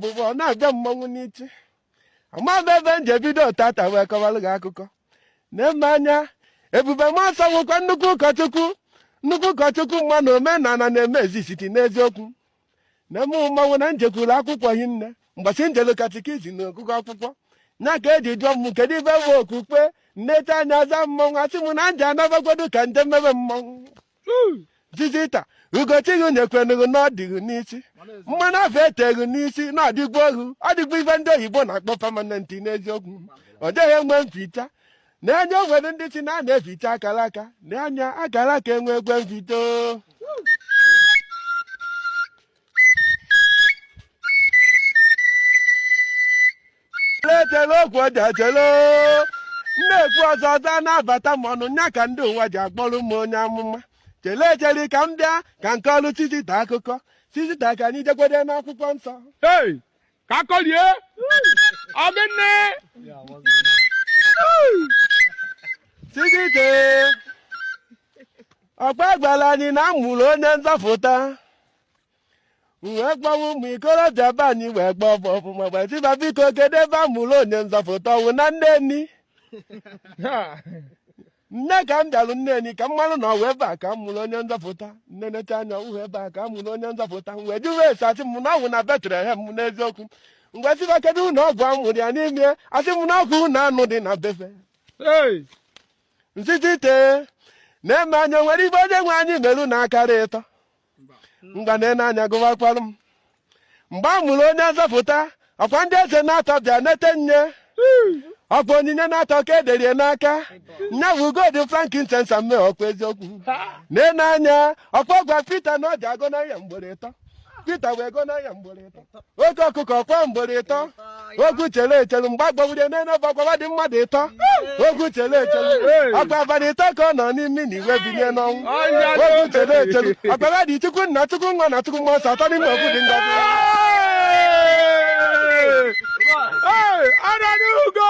ọpụpụ na-abịa mmanwụ n'ichi ama m ebe m ji ebido tata wee kọwara gị akụkọ na-eme anya Ebube Mmụọ Nsọ wụkwa nnukwu ụkọchukwu nnukwu ụkọchukwu mana omenala na-eme ezisiti n'eziokwu na eme mmanwụ na njekwuru akwụkwọ hinne mgbasi njelu katikizim na ọgụgụ akwụkwọ nya ka eji jụọ m kedu ife bụ okpukpe nneta anya aza mmanwụ asị m na nje anabagodu ka nje mebe mmanwụ Zizita ugo chi ghị nyekwenụ ghị na ọ dị ghị n'isi mmanụ afụ e tee ghị n'isi na ọ dịgwo ohu ọ dịgwo ife ndị oyibo na-akpọ permanent n'eziokwu ọ dịghị enwe mficha na anya o nwere ndị sị na a na-eficha akara aka na anya akara aka enwe ekwe mfito na-ekwu ọzọ ọzọ a na-abata m ọnụ nya ka ndị ụwa ji akpọrọ m onye amụma chele echelu ka m bịa ka m kọọrụ Sizita akụkọ Sizita ka anyị jekwede n'akwụkwọ nsọ Hey, ka a kọlie ọgịnị Sizita ọkwa a gwara anyị na a mụrụ onye nzọpụta wee kpọwa ụmụ ikorobịa be anyị wee kpọọ ọbụ ọfụma gbaziba biko kedu ebe a mụrụ onye nzọpụta ọ wụ na Nneni nye ka m bịalụ Nneni ka m marụ na ọ wụ ebe a ka a mụrụ onye nzọpụta m nenecha anya ọ wụhụ ebe a ka a mụrụ onye nzọpụta m wee jụwa ese a sị m na ọ wụ na Betlehem n'eziokwu m wee sị fa kedu ụlọ ọgwụ a mụrụ ya n'ime a sị m na ọ wụ ụlọ anụ dị na befe Hey! Sizita na-ene anya o nwere ife onye nwe anyị merụ n'akara ịtọ ngwa na-ene anya gụwakwara m mgbe a mụrụ onye nzọpụta ọkwa ndị eze naatọ bịa nete nye ọkwa onyinye naatọ ka ederie n'aka nya bụ gold frankincense myrrh ọkwa eziokwu na-ene anya ọkwa gwa Pita na ọ ji agọnahị ya mgboro ịtọ Pita wee gọnahị ya mgboro ịtọ oke ọkụkọ kwaa mgboro ịtọ okwu chere echelu mgbe a kpọgburie n'elu obe ọkwa fa dị mmadụ ịtọ okwu chere echelu ọkwa abalị ịtọ ka ọ nọ n'ime ani wee binye n'ọnwụ okwu chere echelu ọkwa fa dị Chukwu nna Chukwu nwa na Chukwu mmụọ nsọ atọ n'ime otu dị ngọzi Hey! Hey! Ananugo!